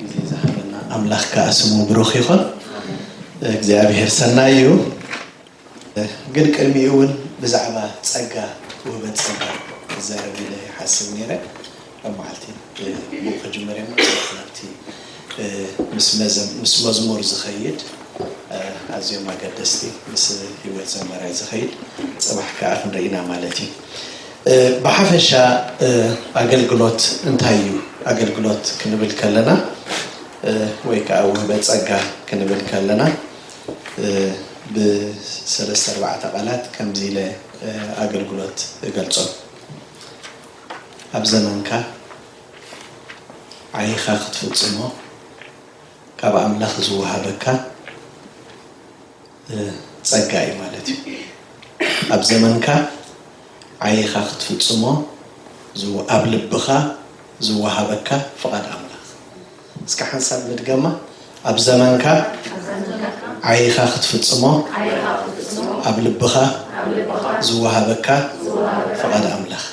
ግዜ ዝሃበና ኣምላኽ ከኣ ስሙ ብሩኽ ይኹን። እግዚኣብሄር ሰናይ እዩ። ግን ቅድሚኡ እውን ብዛዕባ ጸጋ ውህበት ጸጋ ክዛረብ ኢለ ይሓስብ ነይረ ኣብ መዓልቲ ብኡ ክጅምር እየ ናብቲ ምስ መዝሙር ዝኸይድ ኣዝዮም ኣገደስቲ ምስ ህይወት ዘማራይ ዝኸይድ ጽባሕ ከኣ ክንርኢና ማለት እዩ ብሓፈሻ ኣገልግሎት እንታይ እዩ? ኣገልግሎት ክንብል ከለና ወይ ከዓ ውህበ ፀጋ ክንብል ከለና ብሰለስተ ኣርባዕተ ቃላት ከምዚ ኢለ ኣገልግሎት እገልፆ። ኣብ ዘመንካ ዓይኻ ክትፍፅሞ ካብ ኣምላኽ ዝወሃበካ ጸጋ እዩ ማለት እዩ። ኣብ ዘመንካ ዓይኻ ክትፍጽሞ ዝው ኣብ ልብኻ ዝወሃበካ ፍቓድ ኣምላኽ። እስከ ሓንሳብ ንድገማ ኣብ ዘመንካ ዓይኻ ክትፍጽሞ ኣብ ልብኻ ዝወሃበካ ፍቓድ ኣምላኽ።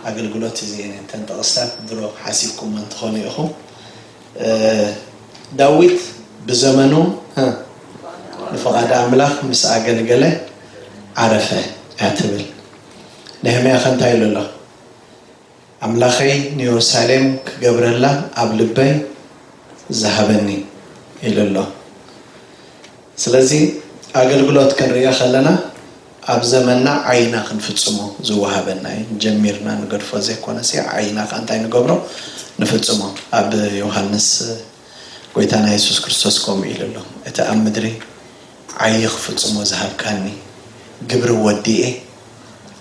ኣገልግሎት እዚኤን እተን ጥቕስታት ድሮ ሓሲብኩመን ትኾኑ ኢኹም። ዳዊት ብዘመኑ ንፍቓድ ኣምላኽ ምስ ኣገልገለ ዓረፈ እያ ትብል። ነህምያኸ እንታይ ኢሉ ኣሎ? ኣምላኸይ ንዮርሳሌም ክገብረላ ኣብ ልበይ ዝሃበኒ ኢሉ ኣሎ። ስለዚ ኣገልግሎት ክንርእዮ ከለና ኣብ ዘመንና ዓይና ክንፍጽሞ ዝወሃበና እዩ ጀሚርና ንገድፎ ዘይኮነሲ ዓይና ከኣ እንታይ ንገብሮ ንፍጽሞ ኣብ ዮሃንስ ጎይታና የሱስ ክርስቶስ ከምኡ ኢሉ ኣሎ እቲ ኣብ ምድሪ ዓይይ ክፍጽሞ ዝሃብካኒ ግብሪ ወዲኤ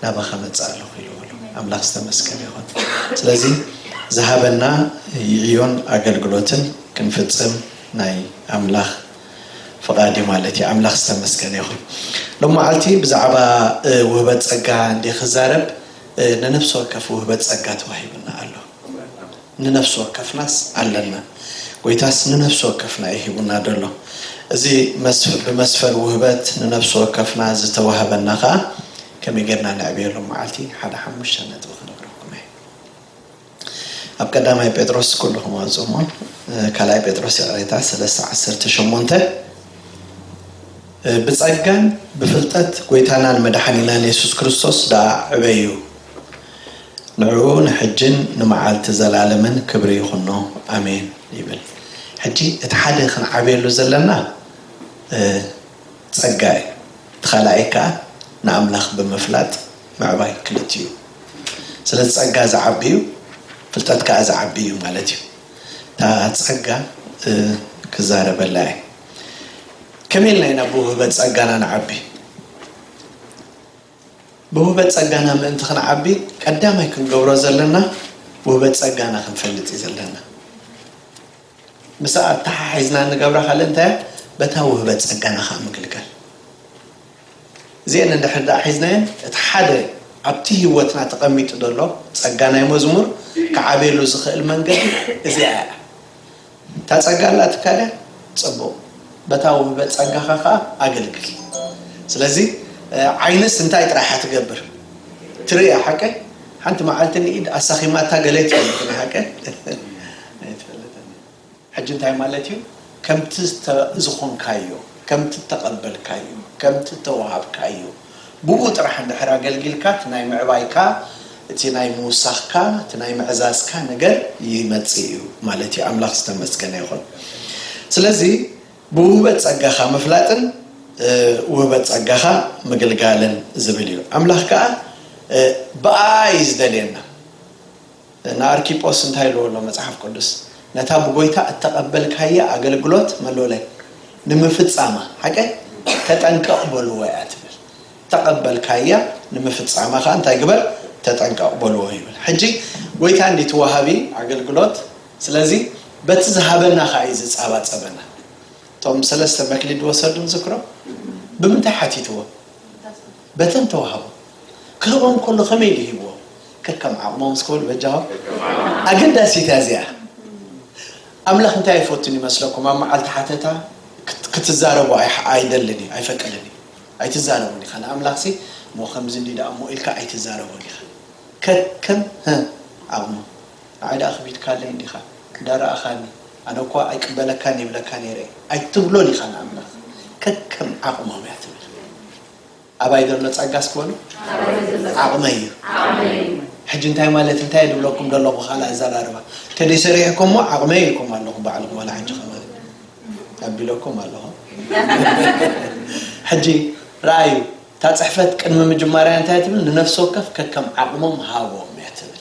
ናባኻ መጽእ ኣለኹ ኢልዎ ኣሎ ኣምላኽ ዝተመስገነ ይኹን ስለዚ ዝሃበና ይዕዮን ኣገልግሎትን ክንፍጽም ናይ ኣምላኽ ፍቃድ እዩ ማለት እዩ ኣምላክ ዝተመስገነ ይኩን ሎማዓልቲ ብዛዕባ ውህበት ጸጋ እንድየ ክዛረብ ንነፍሲ ወከፍ ውህበት ጸጋ ተዋሂብና ኣሎ ንነፍሲ ወከፍናስ ኣለና ጎይታስ ንነፍሲ ወከፍና እዩ ሂቡና ደሎ እዚ ብመስፈር ውህበት ንነፍሲ ወከፍና ዝተዋህበና ከኣ ከመይ ጌርና ነዕብዮ ሎማዓልቲ ሓደ ሓሙሽተ ነጥቢ ክነግረኩም እየ ኣብ ቀዳማይ ጴጥሮስ ኩሉኹም ኣውጽኡ እሞ ካልኣይ ጴጥሮስ ይቕሬታ ሰለስተ ዓሰርተ ሸሞንተ ብጸጋን ብፍልጠት ጎይታናን መድሓኒናን የሱስ ክርስቶስ ደኣ ዕበዩ ንዕኡ ንሕጅን ንመዓልቲ ዘላለምን ክብሪ ይኹኖ ኣሜን ይብል ሕጂ እቲ ሓደ ክንዓብየሉ ዘለና ጸጋ እዩ እቲ ካልኣይ ከኣ ንኣምላኽ ብምፍላጥ ምዕባይ ክልቲኡ ስለዚ ጸጋ ዝዓቢ እዩ ፍልጠት ከኣ ዝዓቢ እዩ ማለት እዩ እታ ጸጋ ክዛረበላ እየ ከመይ ኢልና ኢና ብውህበት ጸጋና ንዓቢ ብውህበት ጸጋና ምእንቲ ክንዓቢ ቀዳማይ ክንገብሮ ዘለና ውህበት ጸጋና ክንፈልጥ እዩ ዘለና ምስኣ ኣተሓሒዝና እንገብራ ካልእ እንታይ እያ? በታ ውህበት ጸጋና ከኣ ምግልጋል። እዚኤን እንድሕር ደኣ ሒዝናየን እቲ ሓደ ኣብቲ ህይወትና ተቐሚጡ ዘሎ ጸጋ ናይ መዝሙር ክዓብየሉ ዝኽእል መንገዲ እዚኣ እያ። እታ ጸጋ ኣላ ትካል እያ? ጽቡቕ። በታ ውህበት ጸጋኻ ከኣ ኣገልግል። ስለዚ ዓይንስ እንታይ ጥራይ እያ ትገብር? ትርኢ እያ ሓቀይ? ሓንቲ መዓልቲ ንኢድ ኣሳኺማታ ገለ ትብል ግን ሓቀይ? ኣይትፈልጥን እዩ ሕጂ እንታይ ማለት እዩ ከምቲ ዝኮንካዮ ከምቲ እተቀበልካዮ ከምቲ እተዋሃብካዮ ብኡ ጥራሕ እንድሕር ኣገልጊልካ እቲ ናይ ምዕባይካ እቲ ናይ ምውሳክካ እቲ ናይ ምዕዛዝካ ነገር ይመጽእ እዩ ማለት እዩ ኣምላክ ዝተመስገነ ይኩን ስለዚ ብውህበት ጸጋካ ምፍላጥን ውህበት ጸጋካ ምግልጋልን ዝብል እዩ ኣምላክ ከኣ ብኣኣ እዩ ዝደልየና ንኣርኪጶስ እንታይ ኢልዎ ኣሎ መጽሓፍ ቅዱስ? ነታ ብጐይታ እተቐበልካያ ኣገልግሎት ምን በለ? ንምፍጻማ ሓቀይ ተጠንቀቕ በልዎ እያ ትብል። እተቐበልካያ ንምፍጻማ ከኣ እንታይ ግበር? ተጠንቀቕ በልዎ ይብል። ሕጂ ጐይታ እንድዩ እቲ ወሃቢ ኣገልግሎት ስለዚ በቲ ዝሃበና ከኣ እዩ ዝጻባጸበና። እቶም ሰለስተ መክሊት ዝወሰዱ ንዝክሮም ብምንታይ ሓቲትዎ? በተን ተዋህቦ። ክህቦም ከሎ ከመይ ኢሉ ሂብዎም? ከከም ዓቕሞም እስኪ በሉ በጃኹም። ኣገዳሲት እያ እዚኣ። ኣምላኽ እንታይ ኣይፈቱን ይመስለኩም? ኣብ መዓልቲ ሓተታ ክትዛረቡ ኣይደልን እዩ፣ ኣይፈቅድን እዩ። ኣይትዛረቡን ኢኻ ንኣምላኽሲ እሞ ከምዚ እንድዩ ደኣ እሞ ኢልካ ኣይትዛረቦን ኢኻ። ከከም ህ ዓቕሞም። ንዓይ ደኣ ክቢድካለይ እንዲኻ፣ እንዳ ረኣኻኒ ኣነ እኳ ኣይቅበለካን ይብለካ ነይረ እዩ ኣይትብሎን ኢኻ ንኣምላኽ። ከከም ዓቕሞም እያ ትብል። ኣባይ ዘሎ ጸጋስ ክበሉ ዓቕመይ እዩ ሕጂ እንታይ ማለት እንታይ ድብለኩም ደለኹ ካልእ ኣዘራርባ ተደይ ሰሪሕኩም ሞ ዓቕመይ ኢልኩም ኣለኹም ባዕልኩም ዋላ ሕጂ ከማን ኣቢለኩም ኣለኹ ሕጂ ረኣዩ እታ ጽሕፈት ቅድሚ ምጅማርያ እንታይ ትብል ንነፍሲ ወከፍ ከከም ዓቕሞም ሃቦም እያ ትብል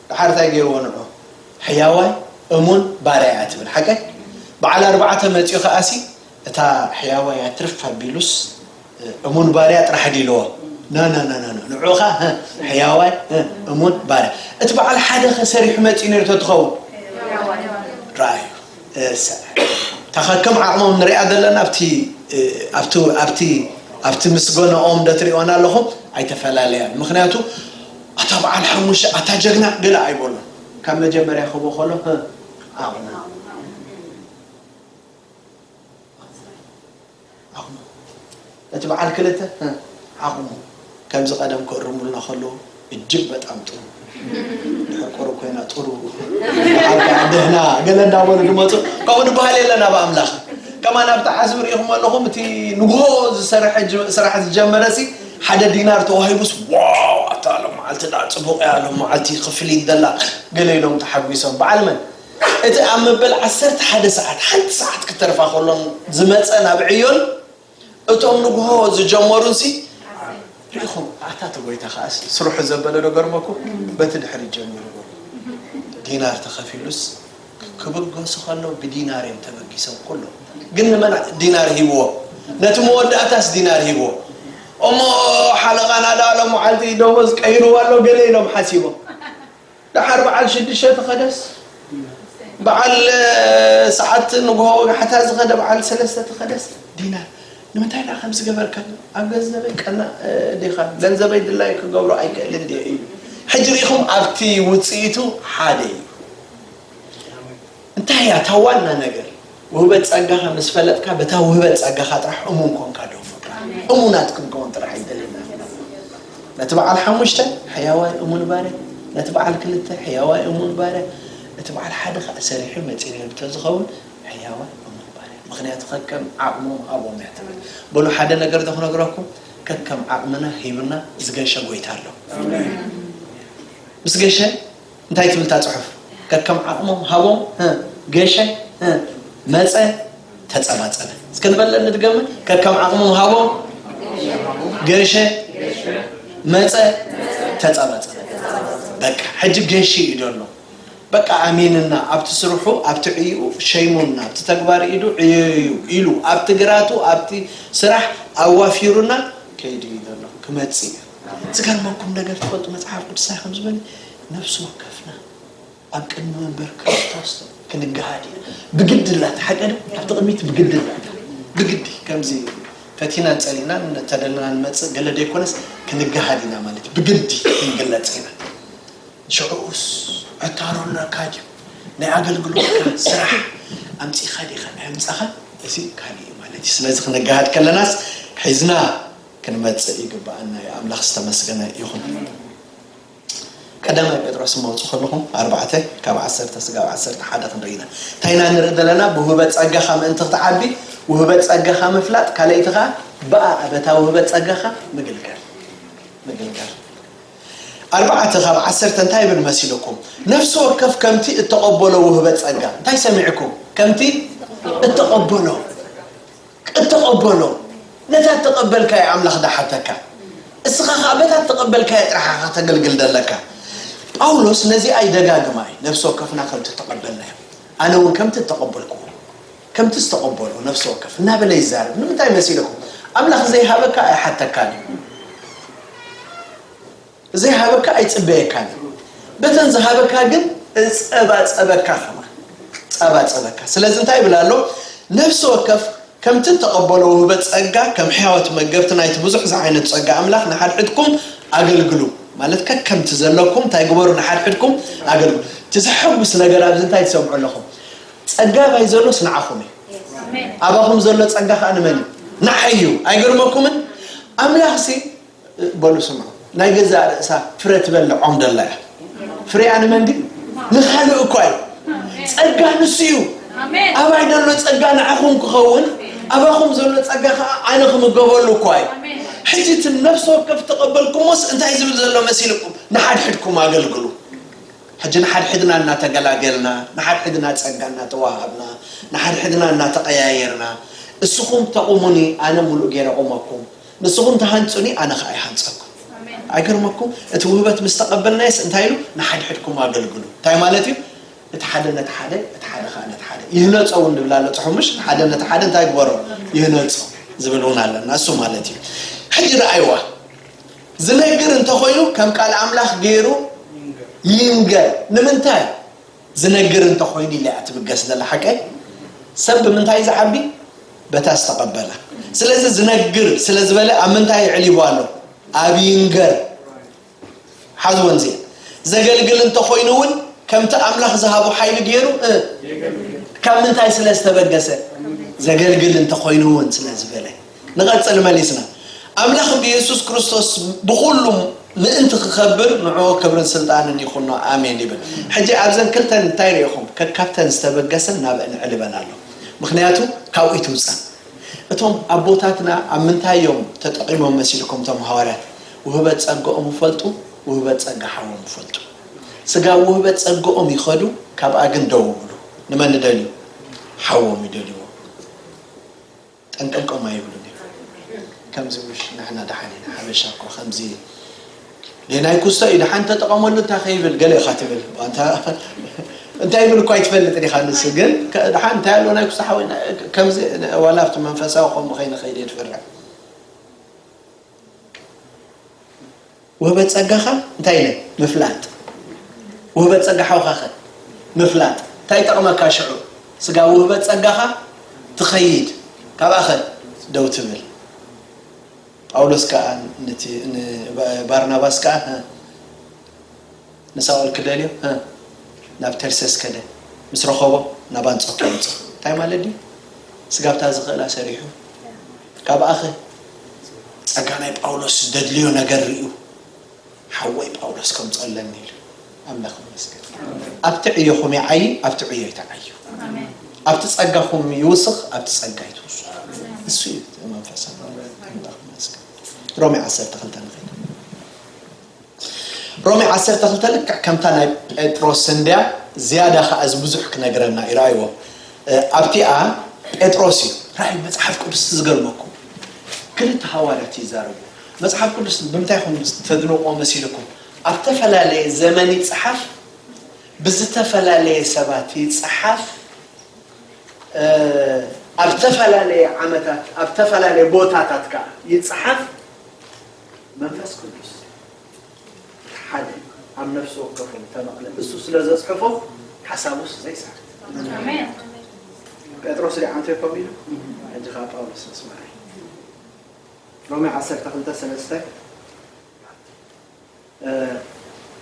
ደሓር ታይ ገይርዎ ንዑ ሕያዋይ እሙን ባርያ እያ ትብል ሓቀይ በዓል ኣርባዕተ መፅዩ ከኣሲ እታ ሕያዋይ እያ ትርፍ ኣቢሉስ እሙን ባርያ ጥራሕ ዲዩ ኢልዎ ናናናናና ንዑ ኸ ሕያዋይ እሙን ባርያ እቲ በዓል ሓደ ኸ ሰሪሑ መፅዩ ነይሩ ተትኸውን ረኣዩ ታኸከም ዓቕሞም ንሪኣ ዘለና ኣብቲ ኣብቲ ኣብቲ ኣብቲ ምስገነኦም ደትሪኦና ኣለኹም ኣይተፈላለያን ምክንያቱ ኣታ በዓል ሓሙሽተ ኣታ ጀግና ገለ ኣይበሎን ካብ መጀመርያ ክህቦ ከሎ ህ ኣቁሙ ኣቁሙ እቲ በዓል ክልተ ህ ኣቁሙ ከምዚ ቀደም ክእርሙልና ከለዉ እጅግ በጣም ጥሩ ድሕር ቁሩብ ኮይና ጥሩ በዓል ከዓ ደህና ገለ እንዳበሉ ድመፁ ከምኡ ድበሃል የለን ኣብ ኣምላኽ ከማን ኣብቲ ዓዝቢ ሪኢኹም ኣለኹም እቲ ንግሆ ዝሰርሐ ስራሕ ዝጀመረ ሲ ሓደ ዲናር ተዋሂቡስ ዋው ኣታ ሎምዓልቲ ድኣ ጽቡቅ እያ ሎምዓልቲ ክፍሊት ደላ ገለ ኢሎም ተሓጒሶም በዓል መን እቲ ኣብ መበል ዓሰርተ ሓደ ሰዓት ሓንቲ ሰዓት ክተርፋ ከሎን ዝመጸ ናብ ዕዮን እቶም ንግሆ ዝጀመሩንሲ ርኢኹም ኣታ እቲ ጎይታ ከኣስ ስርሑ ዘበለ ዶ ገርመኩም በቲ ድሕሪት ጀሚሩ ዲናር ተኸፊሉስ ክብገሱ ከለዉ ብዲናር እዮም ተበጊሶም ኩሎም ግን ንመን ዲናር ሂብዎ ነቲ መወዳእታስ ዲናር ሂብዎ እሞ ሓለቓ ናዳ ሎም መዓልቲ ደሞዝ ቀይርዎ ኣሎ ገለ ኢሎም ሓሲቦም ደሓር በዓል ሽዱሽተ ተኸደስ በዓል ሰዓት ንግሆ ወጋሕታ ዝኸደ በዓል ሰለስተ ተኸደስ ዲናር ንምንታይ ደኣ ከም ዝገበርካ ኣብ ገንዘበይ ቀና ዲኻ ገንዘበይ ድላይ ክገብሮ ኣይክእልን ዲ እዩ ሕጂ ርኢኹም ኣብቲ ውፅኢቱ ሓደ እዩ እንታይ እያ እታ ዋና ነገር? ውህበት ጸጋኻ ምስ ፈለጥካ በታ ውህበት ጸጋኻ ጥራሕ እሙን ኮንካ ዶ ፍቃ እሙናት ክንከውን ጥራሕ ይደለና ነቲ በዓል ሓሙሽተ ሕያዋይ እሙን ባርያ ነቲ በዓል ክልተ ሕያዋይ እሙን ባርያ እቲ በዓል ሓደ ከዓ ሰሪሑ መፂኡ ንብተ ዝኸውን ሕያዋይ እሙን ባርያ ምክንያቱ ከከም ዓቕሞም ሃቦም እያ ትብል በሉ ሓደ ነገር ዶ ክነግረኩም ከከም ዓቕምና ሂብና ዝገሸ ጎይታ ኣሎ ምስ ገሸ እንታይ ትብል እታ ጽሑፍ? ከከም ዓቕሞም ሃቦም፣ ህ፣ ገሸ፣ ህ፣ መጸ፣ ተጸባጸበ። እስከ ንበለ ንድገመ፣ ከከም ዓቕሞም ሃቦም፣ ገሸ፣ መጸ፣ ተጸባጸበ። በቃ ሕጂ ገሺ እዩ ደሎ በቃ ኣሚንና ኣብቲ ስርሑ ኣብቲ ዕይኡ ሸይሙና ኣብቲ ተግባር ኢዱ ዕየዩ ኢሉ ኣብቲ ግራቱ ኣብቲ ስራሕ ኣዋፊሩና ከይዱ እዩ ዘሎ ክመጽእ እዩ ዝገርመኩም ነገር ትፈልጡ መጽሓፍ ቅዱሳይ ከም ዝበለ ነፍሲ ወከፍና ኣብ ቅድሚ መንበር ክርስቶስ ክንገሃድ ኢና ብግዲ ላታ ሓቀ ኣብቲ ቅድሚት ብግዲ ላታ ብግዲ ከምዚ ፈቲናን ጸሊናን ተደልና ንመጽእ ገለ ደይኮነስ ክንገሃድ ኢና ማለት ብግዲ ክንግለጽ ኢና ሽዑኡስ ዕታሮ ኣለካ ድዩ ናይ ኣገልግሎትካ ስራሕ ኣምፂኻ ዲኻ ኣምፃኻ እዚ ካልእ እዩ ማለት እዩ ስለዚ ክንገሃድ ከለናስ ሒዝና ክንመጽእ ይግብኣና እዩ ኣምላኽ ዝተመስገነ ይኹን። ቀዳማይ ጴጥሮስ እመውጽእ ከለኹ ኣርባዕተ ካብ ዓሰርተ ስጋብ ዓሰርተ ሓደ ክንርኢ ኢና እንታይ ኢና ንርኢ ዘለና ብውህበት ጸጋኻ ምእንቲ ክትዓቢ ውህበት ጸጋኻ ምፍላጥ ካልኣይቲ ከዓ ብኣ በታ ውህበት ጸጋኻ ምግልጋል ምግልጋል ኣርባዕተ ካብ ዓሰርተ እንታይ ይብል መሲልኩም ነፍሲ ወከፍ ከምቲ እተቐበሎ ውህበት ጸጋ እንታይ ሰሚዕኩም ከምቲ እተቐበሎ ቅድ ተቐበሎ፣ ነታ እተቐበልካዮ ኣምላኽ ደሓተካ፣ እስኻ ኸኣ በታ እተቐበልካዮ ጥራሕ ኢኻ ከተገልግል ደለካ። ጳውሎስ ነዚኣ ይደጋግማ እዩ፣ ነፍሲ ወከፍና ከምቲ እተቐበልናዮ፣ ኣነ እውን ከምቲ እተቐበልክዎ፣ ከምቲ ዝተቐበሎ ነፍሲ ወከፍ እናበለ ይዛረብ። ንምንታይ መሲልኩም? ኣምላኽ ዘይሃበካ ኣይሓተካን እዩ። ዘይሃበካ ኣይጽበየካን እዩ በተን ዝሃበካ ግን እጸባጸበካ ከማን ጸባጸበካ ስለዚ እንታይ ይብል ኣሎ ነፍሲ ወከፍ ከምቲ እተቐበሎ ውህበት ጸጋ ከም ሕያዎት መገብቲ ናይቲ ብዙሕ ዝዓይነቱ ጸጋ ኣምላኽ ንሓድሕድኩም ኣገልግሉ ማለት ከከምቲ ዘለኩም እንታይ ግበሩ ንሓድሕድኩም ኣገልግሉ እቲ ዘሐጉስ ነገር ኣብዚ እንታይ ትሰምዑ ኣለኹም ጸጋ ባይ ዘሎስ ንዓኹም እዩ ኣባኹም ዘሎ ጸጋ ከዓ ንመን እዩ ንዓይ እዩ ኣይገርመኩምን ኣምላኽሲ በሉ ስምዑ ናይ ገዛእ ርእሳ ፍረ ትበልዖም ደላ እያ ፍሬኣ ንመን ግን ንኻልእ እኳ እዩ ጸጋ ንሱ እዩ ኣባይ ደሎ ጸጋ ንዓኹም ክኸውን ኣባኹም ዘሎ ጸጋ ከዓ ኣነ ክምገበሉ እኳ እዩ ሕጂ እቲ ነፍሲ ወከፍ ተቐበልኩሞስ እንታይ ዝብል ዘሎ መሲልኩም ንሓድሕድኩም ኣገልግሉ ሕጂ ንሓድሕድና እናተገላገልና ንሓድሕድና ጸጋ እናተዋሃብና ንሓድሕድና እናተቐያየርና እስኹም ተቑሙኒ ኣነ ሙሉእ ገይረ ቑመኩም ንስኹም ትሃንጹኒ ኣነ ኸኣ ይሃንጸኩም። ኣይገርመኩም እቲ ውህበት ምስ ተቐበልናዮስ እንታይ ኢሉ ንሓድሕድኩም ኣገልግሉ እንታይ ማለት እዩ እቲ ሓደ ነቲ ሓደ እቲ ሓደ ከዓ ነቲ ሓደ ይህነፆ እውን ንብል ኣሎ ፅሑምሽ ሓደ ነቲ ሓደ እንታይ ግበሮ ይህነፆ ዝብል እውን ኣለና እሱ ማለት እዩ ሕጂ ረኣይዋ ዝነግር እንተኮይኑ ከም ቃል ኣምላኽ ገይሩ ይንገር ንምንታይ ዝነግር እንተ ኮይኑ ኢላ'ያ ትብገስ ዘላ ሓቀይ። ሰብ ብምንታይ'ዩ ዝዓቢ? በታ ዝተቐበላ። ስለዚ ዝነግር ስለ ዝበለ ኣብ ምንታይ ኣዕሊቡ ኣሎ? ኣብ ይንገር። ሓዝወን እዚኤን። ዘገልግል እንተ ኮይኑ እውን ከምቲ ኣምላኽ ዝሃቦ ሓይሊ ገይሩ የገልግል። ካብ ምንታይ ስለ ዝተበገሰ? ዘገልግል እንተ ኮይኑ እውን ስለ ዝበለ። ንቐጽል መሊስና ኣምላኽ ብየሱስ ክርስቶስ ብኹሉ ምእንቲ ክከብር ንዕኡ ክብርን ስልጣንን ይኹኖ ኣሜን ይብል ሕጂ ኣብዘን ክልተን እንታይ ሪኢኹም ከካብተን ዝተበገሰ ናብእን ዕል ይበል ኣሎ ምኽንያቱ ካብኡ ይትውጸን እቶም ኣቦታትና ኣብ ምንታይ እዮም ተጠቒሞም መሲልኩም እቶም ሃዋርያት ውህበት ጸገኦም ይፈልጡ ውህበት ጸጋ ሓዎም ይፈልጡ ስጋ ውህበት ጸገኦም ይኸዱ ካብኣ ግን ደው ይብሉ ንመን ይደልዩ ሓዎም ይደልዩ ጠንቀልቆም ኣይብሉን እዮም ከምዚ ምሽ ንሕና ደሓን ኢና ሓበሻ እኮ ከምዚ እዩ ሌናይ ኩስቶ እዩ ደሓን ተጠቐመሉ እንታይ ከይብል ገለ ኢኻ ትብል ዋንታ እንታይ ብል እኳ ኣይትፈልጥን ኢኻ ንሱ ግን ድሓን እንታይ ኣሎ ናይ ክሳሓወ ከምዚ ዋላ ኣብቲ መንፈሳዊ ከምኡ ከይንኸይድ የድፍርዕ ውህበት ጸጋኻ እንታይ ኢለ ምፍላጥ ውህበት ጸጋ ሓውኻኸ ምፍላጥ እንታይ ይጠቕመካ ሽዑ ስጋ ውህበት ጸጋኻ ትኸይድ ካብኣኸ ደው ትብል ጳውሎስ ከዓ ባርናባስ ከዓ ንሳኦል ክደልዮ ህ ናብ ተርሰስ ከደ ምስ ረኸቦ ናብ ኣንጾክያ መጾ እንታይ ማለት ድዩ ስጋብታ ዝኽእላ ሰሪሑ ካብኣ ኸ ጸጋ ናይ ጳውሎስ ዝደድልዮ ነገር ሪኡ ሓወይ ጳውሎስ ከምጾ ኣለኒ ኢሉ ኣምላኽ ይመስገን ኣብቲ ዕዮኹም ይዓዪ ኣብቲ ዕዮይ ትዓዩ ኣብቲ ጸጋኹም ይውስኽ ኣብቲ ጸጋይ ትውስኹ እሱ እዩ መንፈስ ኣምላኽ ኣምላኽ ይመስገን ሮሜ ዓሰርተ ክልተ ንኸይድ ሮሜ ዓሰርተ ክልተ ልክዕ ከምታ ናይ ጴጥሮስ እንድያ፣ ዝያዳ ኸኣ እዚ ብዙሕ ክነግረና እዩ። ርኣይዎ፣ ኣብቲኣ ጴጥሮስ እዩ። ርኣዩ፣ መጽሓፍ ቅዱስ እቲ ዝገርመኩም፣ ክልተ ሃዋርያት እዩ ዝዛረብዎ። መጽሓፍ ቅዱስ ብምንታይ ኢኹም ተድንቕዎ መሲልኩም? ኣብ እተፈላለየ ዘመን ይጽሓፍ፣ ብዝተፈላለየ ሰባት ይጽሓፍ፣ ኣብ እተፈላለየ ዓመታት፣ ኣብ እተፈላለየ ቦታታት ከኣ ይጽሓፍ፣ መንፈስ ቅዱስ እቲ ሓደ ኣብ ነፍሲ ወከፎም ተመቕለ ንሱ ስለ ዘጽሕፎ ሓሳቡስ ዘይስሕት ጴጥሮስ ደ ኣንተ ኮም ኢሉ ሕጂ ከዓ ጳውሎስ መስመራይ ሮሜ ዓሰርተ ክልተ ሰለስተ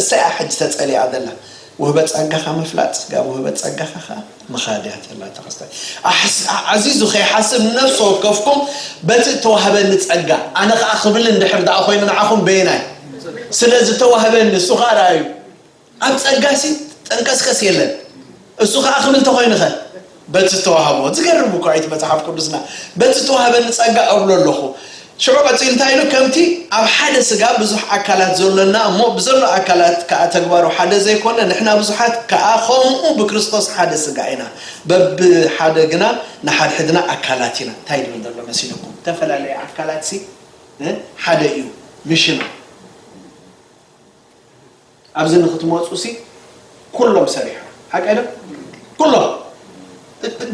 እሰይ እያ ሕጂ ተጸሊኣ ዘላ ውህበት ጸጋኻ ምፍላጥ ጋብ ውህበት ጸጋኻ ከኣ ምኻድ እያ ዘላ ተኸስተ ዓዚዙ ከይሓስብ ንነፍሲ ወከፍኩም በቲ እተዋህበኒ ጸጋ ኣነ ከኣ ክብል እንድሕር ደኣ ኮይኑ ንዓኹም በየናይ ስለ ዝተዋህበኒ እሱ ከኣ ረኣዩ ኣብ ጸጋሲ ጠንቀስቀስ የለን እሱ ከኣ ክብል ተኾይንኸ በቲ ዝተዋህቦ። ዝገርም እኳ እዩ እቲ መጽሓፍ ቅዱስና። በቲ ዝተዋህበኒ ጸጋ እብሎ ኣሎኹ። ሽዑ ቀጺሉ እንታይ ኢሉ ከምቲ ኣብ ሓደ ስጋ ብዙሕ ኣካላት ዘሎና እሞ ብዘሎ ኣካላት ከኣ ተግባሩ ሓደ ዘይኮነ ንሕና ብዙሓት ከኣ ኸምኡ ብክርስቶስ ሓደ ስጋ ኢና በብሓደ ግና ንሓድሕድና ኣካላት ኢና እንታይ ድብል ዘሎ መሲልኩም እተፈላለየ ኣካላትሲ ሓደ እዩ ምሽና ኣብዚ ንክትመጹሲ ኩሎም ሰሪሖም ሓቀይ ዶ ኩሎም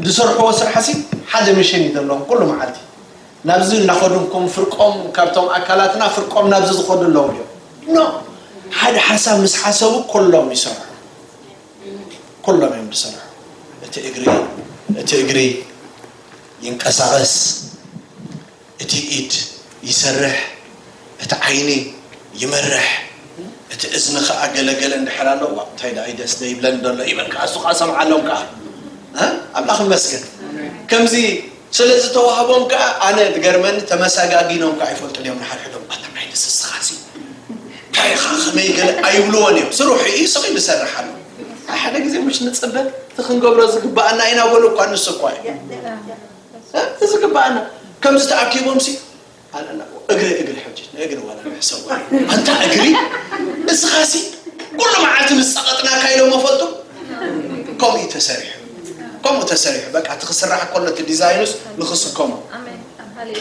ዝሰርሕዎ ስራሕሲ ሓደ ምሽን እዩ ዘለዎም ኩሉ መዓልቲ ናብዚ እናኸዱ ከም ፍርቆም ካብቶም ኣካላትና ፍርቆም ናብዚ ዝኸዱ ኣለዉ ድዮም ኖ ሓደ ሓሳብ ምስ ሓሰቡ ኩሎም ይሰርሑ ኩሎም እዮም ዝሰርሑ እቲ እግሪ እቲ እግሪ ይንቀሳቐስ እቲ ኢድ ይሰርሕ፣ እቲ ዓይኒ ይመርሕ፣ እቲ እዝኒ ከኣ ገለ ገለ እንድሕር ኣሎ ዋእ እንታይ ደኣ ኢደስ ዘይብለኒ ዶ ኣሎ ይብል ከኣ እሱ ከኣ ሰምዓሎም ከኣ እ ኣምላኽ ይመስገን ከምዚ ስለ ዝተዋህቦም ከኣ ኣነ ዝገርመኒ ተመሰጋጊኖም ከኣ ይፈልጡን እዮም ንሓድሕዶም ኣታ ዓይንስ እስኻሲ እንታይ ኢኻ ከመይ ገለ ኣይብልዎን እዮም ስርሑ እዩ ስቕ ኢሉ ይሰርሕ ኣሎ ሓደ ግዜ ምሽ ንፅበ እቲ ክንገብሮ ዝግባኣና ኢና በሉ እኳ ንሱ እኳ እዩ እ ዝግባኣና ከምዚ ተኣኪቦምሲ ኣለና እግሪ እግሪ ሕጂ ንእግሪ ዋላ ንሕሰቦ ኣንታ እግሪ እስኻሲ ኩሉ መዓልቲ ምስ ጸቐጥናካ ኢሎሞ ፈልጡ ከምኡ እዩ ተሰሪሑ ከምኡ ተሰሪሑ በቃ እቲ ክስራሕ ከሎ እቲ ዲዛይኑስ ንኽስከሞ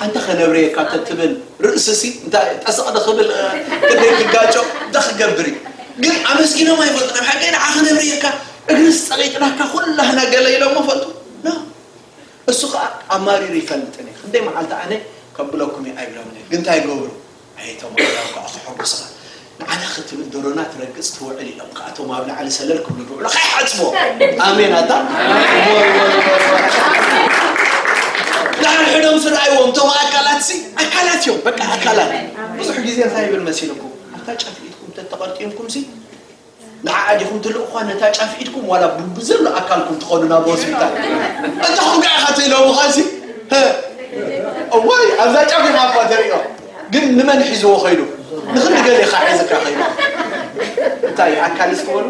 ኣንታ ከነብርየካ ተትብል ርእስሲ እንታይ ጠስቕ ድኽብል ክንደይ ክጋጮ እንታ ክገብር እዩ ግን ኣመስጊኖም ኣይፈልጡን ኣብ ሓቂ ንዓ ከነብርየካ እግርስ ጸቂጥናካ ኩላህና ገለ ኢሎሞ ፈልጡ እሱ ከኣ ኣማሪሩ ይፈልጥን ኢየ ክንደይ መዓልቲ ኣነ ከብለኩም ኢየ ኣይብሎምን ኢየ ግን ታይ ገብሩ ኣየ ቶም ኣግራብ ከኣ ከሐጉስኻ ንዓና ክትብል ደሮና ትረግጽ ትውዕል ኢሎም ከኣ ቶም ኣብ ላዕሊ ሰለል ክብሉ ብውዕሉ ከይሓጽቦ ኣሜን ኣታ ዳርሕዶም ስርኣይዎም ቶም ኣካላት ሲ ኣካላት ኢዮም በቃ ኣካላት ብዙሕ ግዜ እንታይ ይብል መሲልኩም ኣብታ ጫፍ ኢድኩም ተተቐርጢምኩም ሲ ንዓኣ ዲኹም ትልእኹዋ ነታ ጫፍ ኢድኩም ዋላ ብዘሎ ኣካልኩም ትኸዱ ናብ ሆስፒታል እንተ ኹንካ ኢኻ ትእለሙኻሲ ህ እዋይ ኣብዛ ጫፍ ኢኻ እኳ ተርእዮ ግን ንመን ሒዝዎ ኸይዱ ንኽንዲ ገሊኻ ሒዝካ ኸይዱ እንታይ እዩ ኣካል እስኪ በሉ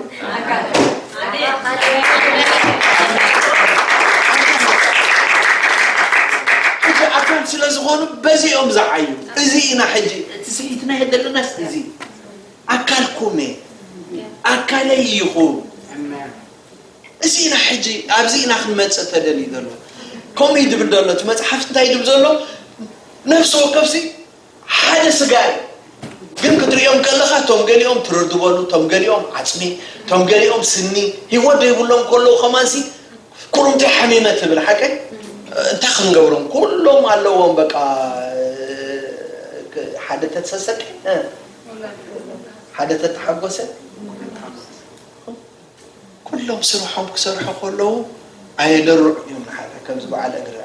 ሕጂ ኣካል ስለ ዝኾኑ በዚኦም ዝዓዩ እዚ ኢና ሕጂ እቲ ስሒትና የደለናስ እዚ ኣካልኩም'የ፣ ኣካለይ ኢኹም። እዚ ኢና ሕጂ ኣብዚ ኢና ክንመጽእ ተደልዩ ዘሎ። ከምኡ እዩ ዝብል ዘሎ እቲ መጽሓፍቲ እንታይ ዝብል ዘሎ ነፍሲ ወከፍሲ ሓደ ስጋ እዩ። ግን ክትርእዮም ከለኻ እቶም ገሊኦም ትርር ዝበሉ፣ እቶም ገሊኦም ዓጽሚ፣ እቶም ገሊኦም ስኒ፣ ህይወት ዘይብሎም ከለዉ ከማንሲ ኩርምቲ ሓሚመ ትብል ሓቀይ። እንታይ ክንገብሮም ኩሎም ኣለዎም በቃ ሓደ ተሰሰቂ። ሓደ ተተሓጎሰ ክልተ ዓመት ኩሎም ስርሖም ክሰርሑ ከለዉ ኣየደርዑን እዮም ንሓደ ከምዚ በዓል እግሪ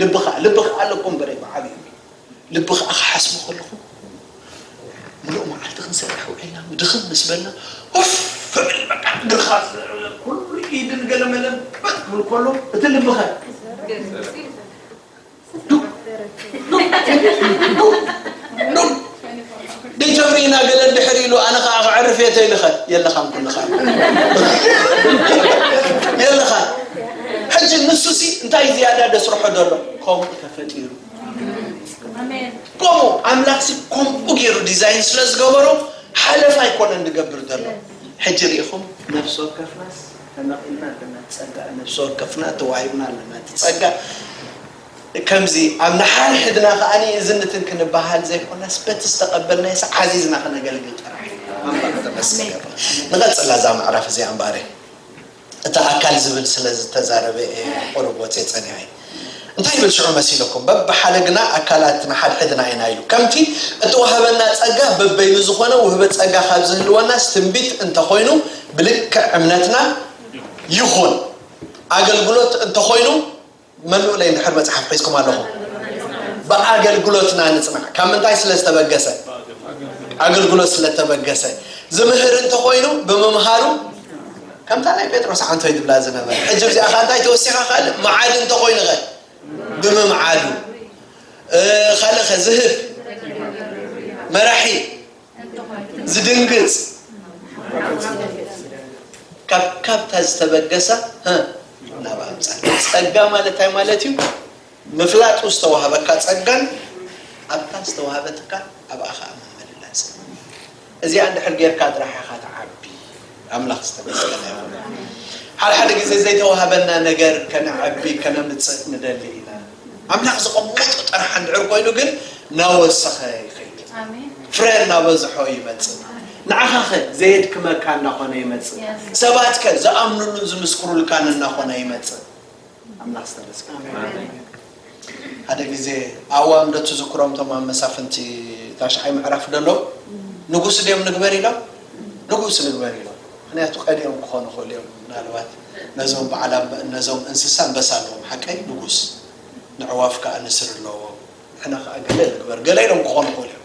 ልቢ ከዓ ልቢ ከዓ ኣለኩም በረ በዓል እዩ ልቢ ከዓ ክሓስቡ ከለኹም ምሉእ መዓልቲ ክንሰርሕ ውዒልና ድኽም ምስ በልና ፍዕል በቃ እግርኻ ኩሉ ኢድን ገለመለን ክበል ክብል ከሎ እቲ ልብኸ ዲተብሪና ገለ ድሕር ኢሉ ኣነ ከዓ ክዕርፍ የተ ኢልኸ የለኻን ኩልኻ የለኻን ሕጂ ንሱ ሲ እንታይ ዝያዳ ደስርሖ ደሎ ከምኡ ተፈጢሩ ከምኡ ኣምላክ ሲ ከምኡ ገይሩ ዲዛይን ስለ ዝገበሮ ሓለፍ ኣይኮነን ዝገብር ዘሎ ሕጂ ርኢኹም ነፍሲ ወከፍናስ ተመቒልና ኣለና እቲ ጸጋ ነብሲ ወከፍና ተዋሂብና ኣለና እቲ ጸጋ ከምዚ ኣብ ንሓድሕድና ከኣ እዚ ንትን ክንበሃል ዘይኮነስ በቲ ዝተቐበልናዮስ ዓዚዝና ክነገልግል ጥራሕ እዩ ኣምላኽ ተመስገን ይኹን ንቐጽላ እዛ ምዕራፍ እዚኣ እምበኣር እቲ ኣካል ዝብል ስለ ዝተዛረበ እየ ቁሩብ ወጽየ ጸኒሐ እንታይ ይብል ሽዑ መሲልኩም? በብሓለግና ኣካላት ንሓድሕድና ኢና ኢሉ። ከምቲ እተዋህበና ጸጋ በበይኑ ዝኾነ ውህበት ጸጋ ካብ ዝህልወናስ ትንቢት እንተ ኾይኑ ብልክዕ እምነትና ይኹን። ኣገልግሎት እንተ ኾይኑ መልኡለይ እንድሕር መጽሓፍ ሒዝኩም ኣለኹም ብኣገልግሎትና ንጽናዕ። ካብ ምንታይ ስለ ዝተበገሰ? ኣገልግሎት ስለ እተበገሰ። ዝምህር እንተ ኾይኑ ብምምሃሩ ከምታ ናይ ጴጥሮስ ዓንቶይ ዝብላ ዝነበረ ሕጂ ኣብዚኣ ከኣ እንታይ ተወሲኻ ካልእ መዓድ እንተኾይኑ ኸ ብምምዓዱ ካልእ ኸ ዝህብ መራሒ ዝድንግጽ ካብ ካብታ ዝተበገሳ ናብ ኣምጻ ጸጋ ማለት እንታይ ማለት እዩ ምፍላጡ ዝተዋህበካ ጸጋን ኣብታ ዝተዋህበትካ ኣብኣ ከኣ ምምልላስን እዚኣ እንድሕር ጌርካ ጥራሕ ኢኻ ትዓቢ። ኣምላኽ ዝተመስገነ ይኹን። ሓድሓደ ግዜ ዘይተዋህበና ነገር ከነዕቢ ከነምጽእ ንደሊ ኢና። ኣምላኽ ዘቐመጦ ጥራሕ እንድሕር ኮይኑ ግን ናወሰኸ ይኸይድ ፍረ እናበዝሖ ይመጽእ። ንዓኻኸ ዘየድክመካ እናኾነ ይመጽእ። ሰባትከ ዝኣምኑሉን ዝምስክሩልካን እናኾነ ይመጽእ። ኣምላኽ ዝተመስገነ ይኹን። ሓደ ግዜ ኣዋም ዶ ትዝክሮም እቶም ኣብ መሳፍንቲ ታሽዓይ ምዕራፍ ደለው ንጉስ ድዮም ንግበር ኢሎም ንጉስ ንግበር ኢሎም ምክንያቱ ቀዲኦም ክኾኑ ክእሉ እዮም ምናልባት ነዞም በዓል ነዞም እንስሳ ኣንበሳ ኣለዎም ሓቀይ ንጉስ ንዕዋፍ ከዓ ንስር ኣለዎም ንሕና ከዓ ገለ ንግበር ገለ ኢሎም ክኾኑ ክእሉ እዮም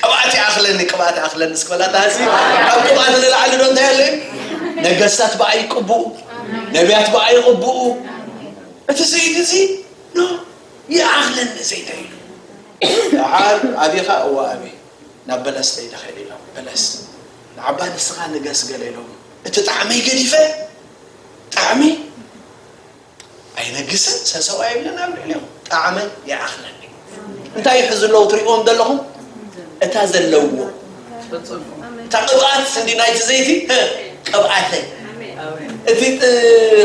ቅብኣት ይኣኽለኒ ቅብኣት ይኣኽለኒ እስኪ በላ እታ ህዝቢ ካብ ቅብኣት ንላዕሊ ዶ እንታይ ኣሎ እዩ ነገስታት ብኣይ ይቅብኡ ነቢያት ብኣይ ይቅብኡ እቲ ዘይቲ እዚ ኖ ይኣኽለኒ ዘይተ ኢሉ ደሓር ኣቢኻ እወ ኣቢ ናብ በለስ ደይደ ኸይደ ኢሎም በለስ ንዓባ ንስኻ ንገስ ገለ ኢሎም እቲ ጣዕመይ ገዲፈ ጣዕሚ ኣይነግስን ሰሰው ኣይብልን ኣብ ልዕሊኦም ጣዕመይ ይዓኽነኒ እንታይ ይሕዙ ኣለዉ ትሪእዎም ዘለኹም እታ ዘለውዎ እታ ቅብኣት ስንዲ ናይቲ ዘይቲ እ፣ ቅብኣተይ እቲ ጥ-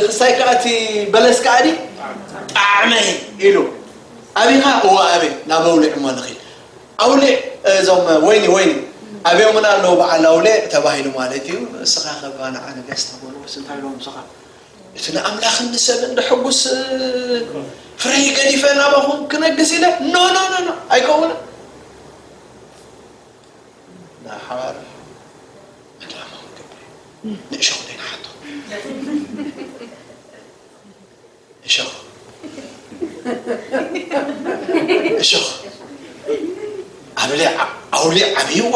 ክሳይ ከዓ እቲ በለስ ከዓ ዲ ጣዕመይ ኢሉ ኣብኻ እወ ኣበይ ናብ ኣውሊዕ እሞ ንኺድ ኣውሊዕ እዞም ወይኒ ወይኒ ኣብዮምና ኣለዉ በዓል ኣውሊዕ ተባሂሉ ማለት እዩ እስኻ ከባ ንዓ ንገስ ተበልዎስ እንታይ ኢሎም እስኻ እቲ ንኣምላኽን ንሰብን ደሐጉስ ፍረይ ገዲፈ ናባኹም ክነግስ ኢለ ኖ ኖ ኖ ኖ ኣይከውንን ንሓር ዕላማ ክገብር ንእሸኹ ደይንሓቶ እሸኹ እሸኹ ኣብለ ኣውሊ ዓብይዋ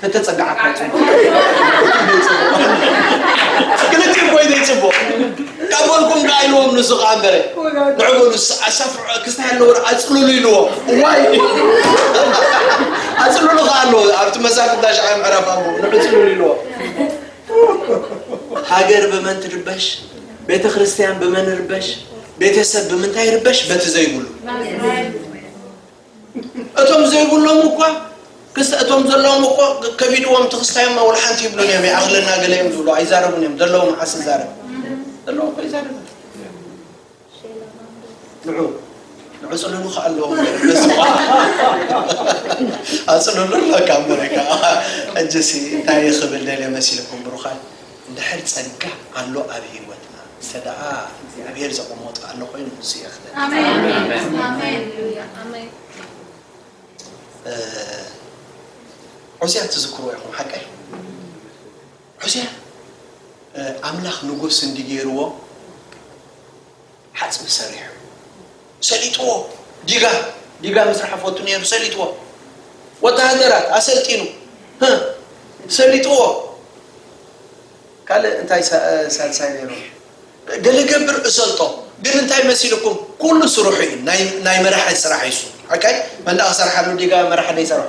ተተጸጋዓካ ይጽቡቕ ክልቲኡ ኮይነ ይጽቡቕ ካብ በልኩም ደኣ ኢልዎም ንሱ ከዓ እምበረ ንዕበሉ ኣሳፍዑ ክስታይ ኣለዎ ኣፅልሉ ኢልዎ ዋይ ኣፅልሉ ከዓ ኣለዎ ኣብቲ መሳፍንት ዳሽዓይ ምዕራፍ ኣቦ ንዕፅልሉ ኢልዎ ሃገር ብመን ትርበሽ ቤተ ክርስቲያን ብመን ይርበሽ ቤተሰብ ብምንታይ ይርበሽ በቲ ዘይብሉ እቶም ዘይብሎም እኳ ክስተ እቶም ዘለዎም እኮ ከቢድዎም ትክስታዮም ወላ ሓንቲ ይብሉን እዮም ይኣኽለና ገለ እዮም ዝብሉ ኣይዛረቡን እዮም ዘለዎም መዓስ ይዛረብ ዘለዎ እኮ ይዛረብ ንዑ ንዑ ፅልሉ ከዓ ኣለዎም ኣፅልሉ ኣለካ ኣመሪካ ሕጂሲ እንታይ ክብል ደልየ መሲልኩም ብሩኻት እንድሕር ጸጋ ኣሎ ኣብ ሂወትና እንተ ደኣ እግዚኣብሄር ዘቐሞጦ ኣሎ ኮይኑ ንሱ የኽብር። ዖዝያን ትዝክርዎ ኢኹም ሓቀይ ዖዝያን ኣምላኽ ንጉስ እንዲ ጌርዎ ሓጽቢ ሰሪሑ ሰሊጥዎ ዲጋ ዲጋ ምስራሕ ፎቱ ነይሩ ሰሊጥዎ ወተሃደራት ኣሰልጢኑ ሰሊጥዎ ካልእ እንታይ ሳልሳይ ነይሩ ገለ ገብር እሰልጦ ግን እንታይ መሲልኩም ኩሉ ስርሑ እዩ ናይ መራሒ ስራሕ ይሱ ኦኬ መንዳ ክሰርሓሉ ዲጋ መራሒ ደይሰርሖ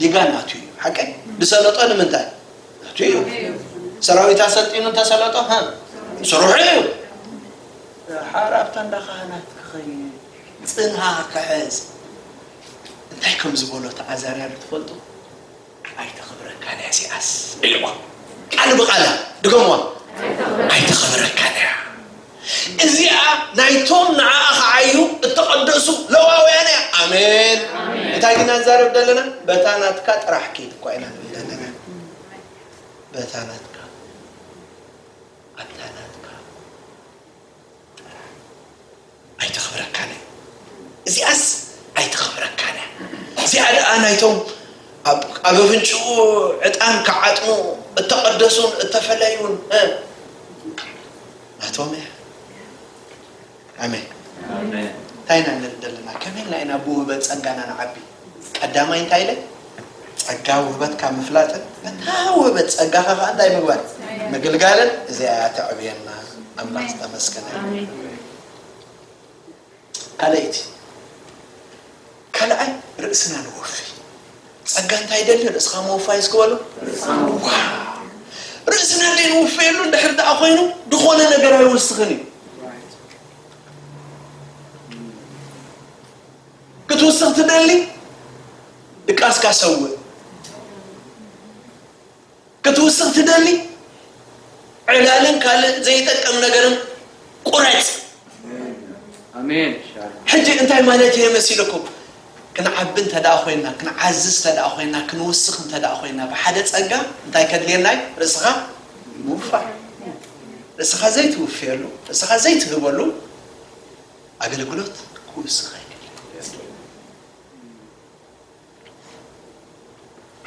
ዲጋ ናቱ እዩ ሓቀይ ድሰለጦ ንምንታይ ናቱ እዩ ሰራዊት ኣሰልጢኑ እንተሰለጦ ሃ ስርሑ እዩ ሓር ኣብታ እንዳ ካህናት ክኸይድ ፅንሃ ክሕዝ እንታይ ከም ዝበሎ ተኣዛርያ ዶ ትፈልጡ ኣይተኽብረካን እያ ሲኣስ ኢልዋ ቃል ብቃላ ድገምዋ ኣይተኽብረካን እያ እዚኣ ናይቶም ንዓኣ ክዓዩ እተቐደሱ ለዋውያን እያ። ኣሜን። እንታይ ኢና ንዛረብ ዘለና? በታ ናትካ ጥራሕ ኪድ እኳ ኢና ንብል ዘለና። በታ ናትካ ኣብታ ናትካ ጥራሕ ኣይተኽብረካን እዩ። እዚኣስ ኣይተኽብረካን እያ። እዚኣ ደኣ ናይቶም ኣብ ኣብ ኣፍንጭኡ ዕጣን ክዓጥኑ እተቐደሱን እተፈለዩን እ ናቶምያ ኣሜን እንታይ ኢና ንብል ዘለና ከመይ ኢልና ኢና ብውህበት ጸጋና ንዓቢ ቀዳማይ እንታይ ኢለ ጸጋ ውህበትካ ምፍላጥን ነታ ውህበት ጸጋኻ ከዓ እንታይ ምግባር ምግልጋልን እዚኣ እያ ተዕብየና ኣምላኽ ዝተመስገነ እዩ። ካልኣይቲ፣ ካልኣይ ርእስና ነወፊ። ጸጋ እንታይ ይደሊ? ርእስኻ ምውፋይ እስኪ በሉ። ዋው! ርእስና ዘይንውፈየሉ እንድሕር ደኣ ኮይኑ ዝኾነ ነገር ኣይወስኽን እዩ። ክትውስኽ ትደሊ? ድቃስካ ሰውእ። ክትውስኽ ትደሊ ዕላልን ካልእ ዘይጠቅም ነገርን ቁረጽ። ሕጂ እንታይ ማለት እየ መሲልኩም? ክንዓቢ እንተ ደኣ ኮይንና፣ ክንዓዝዝ እንተ ደኣ ኮይንና፣ ክንውስኽ እንተ ደኣ ኮይንና፣ ብሓደ ጸጋ እንታይ ከድልየና እዩ? ርእስኻ ምውፋር። ርእስኻ ዘይትውፍየሉ፣ ርእስኻ ዘይትህበሉ ኣገልግሎት ክውስኽ ኣይክእልን።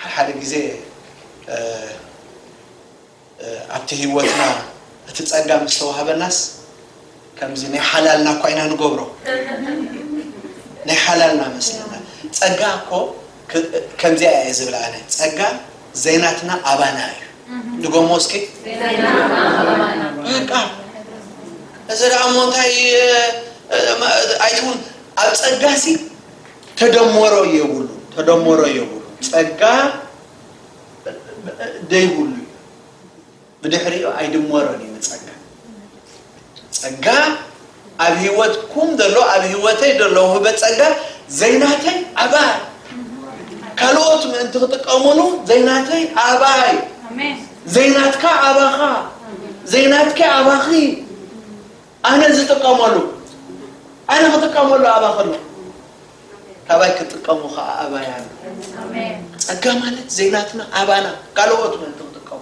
ሓሓደ ግዜ ኣብቲ ህይወትና እቲ ጸጋ ምስ ተዋህበናስ ከምዚ ናይ ሓላልና እኳ ኢና ንገብሮ ናይ ሓላልና መስለና ጸጋ እኮ ከምዚኣ እየ ዝብላ ኣነ ጸጋ ዘይናትና ኣባና እዩ ድጎሞ እስኪ በቃ እዚ ደኣ እሞ እንታይ ኣይትውን ኣብ ጸጋሲ ተደሞሮ የቡሉ ተደሞሮ የቡሉ ጸጋ ደይቡሉ እዩ ብድሕሪኡ ኣይድሞሮን እዩ ንጸጋ ጸጋ ኣብ ህይወትኩም ዘሎ ኣብ ህይወተይ ዘሎ ውህበት ጸጋ ዘይናተይ ኣባይ ካልኦት ምእንቲ ክጥቀሙሉ ዘይናተይ ኣባይ ዘይናትካ ኣባኻ ዘይናትከ ኣባኺ ኣነ ዝጥቀመሉ ኣነ ክጥቀመሉ ኣባ ከሎ ካባይ ክጥቀሙ ከዓ ኣባይ ኣሎ ጸጋ ማለት ዘይናትና ኣባና ካልኦት ምእንቲ ክጥቀሙ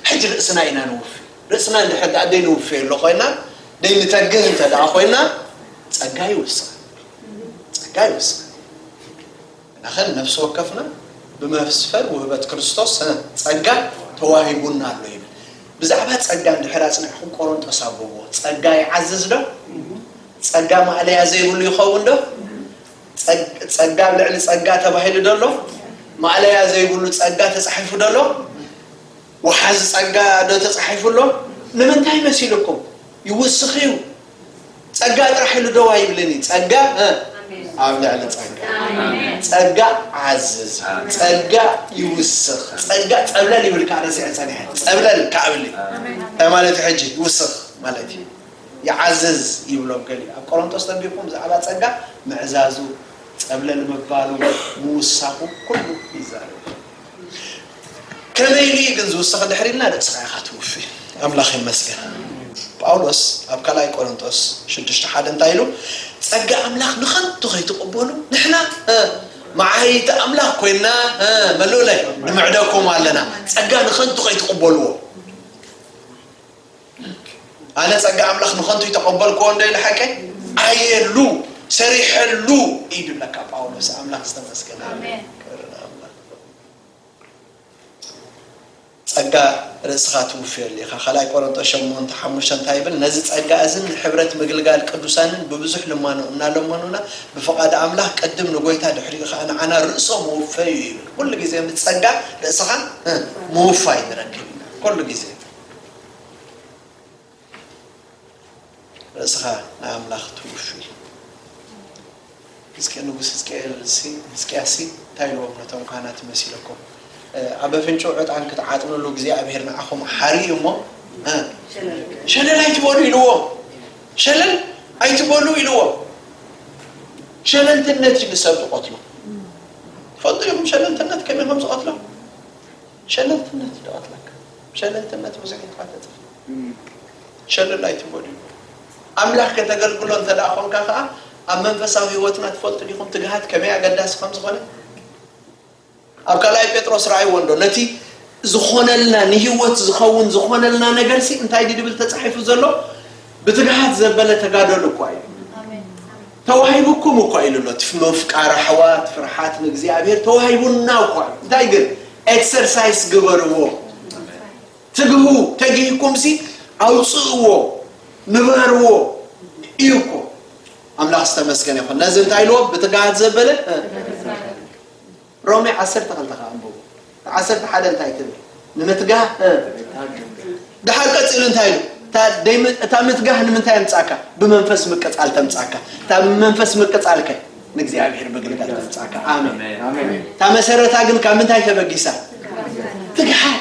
ሕጂ ርእስና ኢና ንውፍ ርእስና እንድሕር ደኣ ዘይንውፍዮ ኣሎ ኮይና ዘይንተግህ እንተ ደኣ ኮይና ጸጋ ይውስኽ ጸጋ ይውስኽ ንኸን ነፍሲ ወከፍና ብመፍስፈር ውህበት ክርስቶስ ጸጋ ተዋሂቡና ኣሎ ይብል። ብዛዕባ ጸጋ እንድሕር ኣጽኒዕኩም ቆሮንጦስ ኣንብብዎ። ጸጋ ይዓዝዝ ዶ? ጸጋ ማእለያ ዘይብሉ ይኸውን ዶ? ጸጋ ኣብ ልዕሊ ጸጋ ተባሂሉ ዶ ኣሎ? ማእለያ ዘይብሉ ጸጋ ተጻሒፉ ዶ ኣሎ? ወሓዚ ጸጋ ዶ ተጻሒፉ ኣሎ? ንምንታይ መሲልኩም ይውስኽ እዩ። ጸጋ ጥራሕ ኢሉ ደው ኣይብልን እዩ ጸጋ ኣብ ልዕሊ ጸጋ ጸጋ ዓዝዝ ጸጋ ይውስኽ ጸጋ ጸብለል ይብል ከዓ ረሲዐ ጸኒሐ ጸብለል ከዓ ብል እንታይ ማለት እዩ ሕጂ ይውስኽ ማለት እዩ ይዓዝዝ ይብሎም ገሊ ኣብ ቆሮንቶስ ተንቢብኩም ብዛዕባ ጸጋ ምዕዛዙ ጸብለል ምባሉ ምውሳኹ ኩሉ ይዛረብ ከመይ ኢሉ እዩ ግን ዝውስኽ ድሕሪ ኢልና ንጽራ ኢኻ ትውፊ ኣምላኽ ይመስገን ጳውሎስ ኣብ ካልኣይ ቆሮንጦስ ሽዱሽተ ሓደ እንታይ ኢሉ ጸጋ ኣምላኽ ንኸንቱ ከይትቕበሉ ንሕና መዓይቲ ኣምላኽ ኮይና መሎለ ንምዕደኩም ኣለና ጸጋ ንኸንቱ ከይትቕበልዎ Like። ኣነ ጸጋ ኣምላኽ ንኸንቱ ኣይተቐበልክዎ እንዶ ኢለ ሓቀይ ኣየሉ ሰሪሐሉ እዩ ድብለካ ጳውሎስ ኣምላኽ ዝተመስገነ ክብሪ ንኣምላኽ ጸጋ ርእስኻ ትውፍየሉ ኢኻ ካልኣይ ቆሮንጦስ ሸሞንተ ሓሙሽተ እንታይ ይብል ነዚ ጸጋ እዝን ንሕብረት ምግልጋል ቅዱሳንን ብብዙሕ ልማኖ እናለመኑና ብፍቓድ ኣምላኽ ቅድም ንጎይታ ድሕሪኡ ከዓ ንዓና ርእሶ ምውፈዩ ይብል ኩሉ ግዜ ምስ ጸጋ ርእስኻ ምውፋይ ንረክብ ኢና ኩሉ ግዜ ርእስኻ ንኣምላኽ ትውፊ። ህዝቂ ንጉስ ህዝቅኤልሲ ህዝቅያስሲ እንታይ ኢልዎም ነቶም ካህናት መሲለኩም ኣብ ኣፍንጭኡ ዕጣን ክትዓጥንሉ እግዚኣብሔር ንዓኹም ሓርዩ እሞ ሸለል ኣይትበሉ ኢልዎም ሸለል ኣይትበሉ ኢልዎም ሸለልትነት እዩ ንሰብ ዝቐትሎ ፈልጡ ኢኹም ሸለልትነት ከመይ ከም ዝቐትሎም ሸለልትነት ድቀትለካ ሸለልትነት ብዙሕ ኢካ ተጥፍእ ሸለል ኣይትበሉ ይብሉ ኣምላክ ከተገልግሎ እንተ ኮንካ ከኣ ኣብ መንፈሳዊ ህይወትና ትፈልጡ ዲኹም ትግሃት ከመይ ኣገዳሲ ከም ዝኾነ ኣብ ካልኣይ ጴጥሮስ ረኣይዎ እንዶ ነቲ ዝኾነልና ንህይወት ዝኸውን ዝኾነልና ነገርሲ እንታይ ድብል ተጻሒፉ ዘሎ ብትግሃት ዘበለ ተጋደሉ እኳ ኢሉ ተዋሂቡኩም እኳ ኢሉ ኣሎ እቲ ምፍቃር ኣሕዋት ፍርሓት ንእግዚኣብሔር ተዋሂቡና እኳ ኢሉ እንታይ ግን ኤክሰርሳይስ ግበርዎ ትግሁ ተጊህኩምሲ ኣውፅእዎ ንበርዎ እዩ እኮ ኣምላኽ ዝተመስገነ ይኹን ነዚ እንታይ ኢልዎ ብትግሃት ዘበለ ሮሜ ዓሰርተ ክልተ ከኣ ኣንብቡ። ዓሰርተ ሓደ እንታይ ትብል? ንምትጋህ እ። ደሓር ቀጺሉ እንታይ ኢሉ? እታ ደይ ም- እታ ምትጋህ ንምንታይ ኣምጻካ? ብመንፈስ ምቅጻል ተምጻካ። እታ ብመንፈስ ምቅጻል ከ ንእግዚኣብሔር ምግልጋል ተምጻካ። ኣሜን። ኣሜን እታ መሰረታ ግን ካብ ምንታይ ተበጊሳ? ትግሓት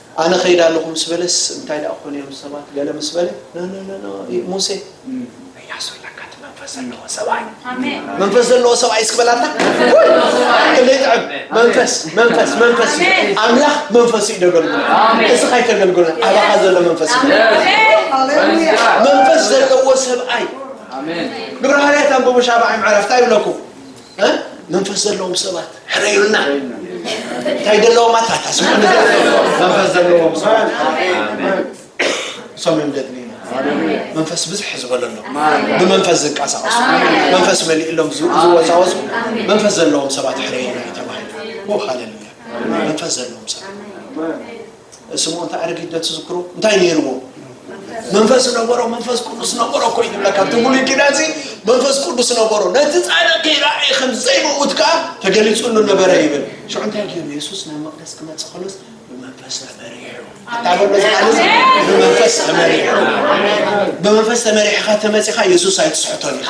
ኣነ እኸይድ ኣለኹ ምስ በለስ፣ እንታይ ደኣ ክኾኑ እዮም ሰባት? ገለ ምስ በለ፣ ኖኖኖኖ፣ ሙሴ፣ እያሱ ኣለካ፣ እቲ መንፈስ ዘለዎ ሰብኣይ፣ መንፈስ ዘለዎ ሰብኣይ እስኪ በላ ኣንታ። ውይ! ክንደይ ይጥዕም! መንፈስ፣ መንፈስ፣ መንፈስ እዩ። ኣምላኽ መንፈሱ እዩ ደገልግሎ። እዚ ካይተገልግሎ፣ ኣባኻ ዘሎ መንፈስ እዩ። መንፈስ ዘለዎ ሰብኣይ ግብረ ሃዋርያት ኣንብቡ ሻብዓይ ምዕራፍ እንታይ ይብለኩም? እ? መንፈስ ዘለዎም ሰባት ሕረዩልና እንታይ ዘለዎም ኣታታ ስሙ መንፈስ ዘለዎም ሰባት እሶም እዮም ደግሚና መንፈስ ብዝሕ ዝበለሎ ብመንፈስ ዝንቀሳቀሱ መንፈስ መሊእሎም ዝው- ዝወዛወዙ መንፈስ ዘለዎም ሰባት ሕረዩልና እዩ ተባሂሉ ኦ ሃሌሉያ መንፈስ ዘለዎም ሰባት ስምዖን እታ ኣረጊት ዶ ትዝክሮ እንታይ ነይርዎ መንፈስ ነበሮ መንፈስ ቅዱስ ነበሮ እኮ እዩ ዝብለካ እቲ ብሉይ ኪዳን እዚ መንፈስ ቅዱስ ነበሮ ነቲ ፃድቅ ከይረኣየ ከም ዘይመውት ከዓ ተገሊፁሉ ነበረ ይብል ሽዑ እንታይ ገይሩ የሱስ ናብ መቅደስ ክመፅእ ከሎስ ብመንፈስ ተመሪሑ ታበሎ ዝቃልስ ብመንፈስ ተመሪሑ ብመንፈስ ተመሪሕካ ተመፂኻ የሱስ ኣይትስሕቶን ኢኻ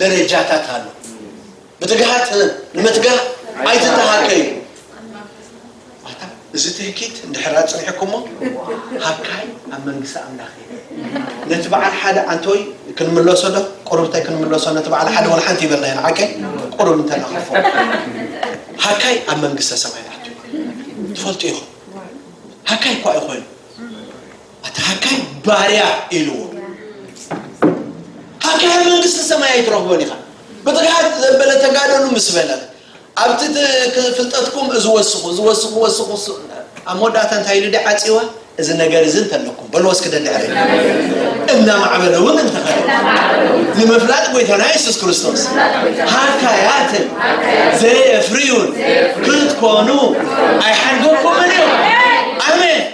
ደረጃታት ኣሎ ብትግሃት ንምትጋህ ኣይትተሃከዩ ኣታ እዚ ትህኪት እንድሕር ኣፅኒሕኩሞ ሃካይ ኣብ መንግስቲ ኣምላኽ እዩ ነቲ በዓል ሓደ ኣንተወይ ክንምለሶ ዶ ቁርብታይ ክንምለሶ ነቲ በዓል ሓደ ወላ ሓንቲ ይበልና ኢና ዓከይ ቁርብ እንተናኸፎ ሃካይ ኣብ መንግስተ ሰማይ ኣትዩ ትፈልጡ ኢኹም ሃካይ እኳ እዩ ኮይኑ ኣታ ሃካይ ባርያ ኢልዎ ሃካይ መንግስቲ ሰማይ ኣይትረኽቦን ኢኻ ብትግሃት ዘበለ ተጋደሉ ምስ በለ ኣብቲ ፍልጠትኩም እዚ ወስኹ እዚ ወስኹ ወስኹ ኣብ መወዳእታ እንታይ ኢሉ ዲዓ ፅዋ እዚ ነገር እዚ እንተለኩም በልዎ እስኪ ደድሕሪ እናማዕበለ እውን እንተኸደ ንምፍላጥ ጎይታና የሱስ ክርስቶስ ሃካያትን ዘየፍርዩን ክትኮኑ ኣይሓንገኩምን እዩ ኣሜን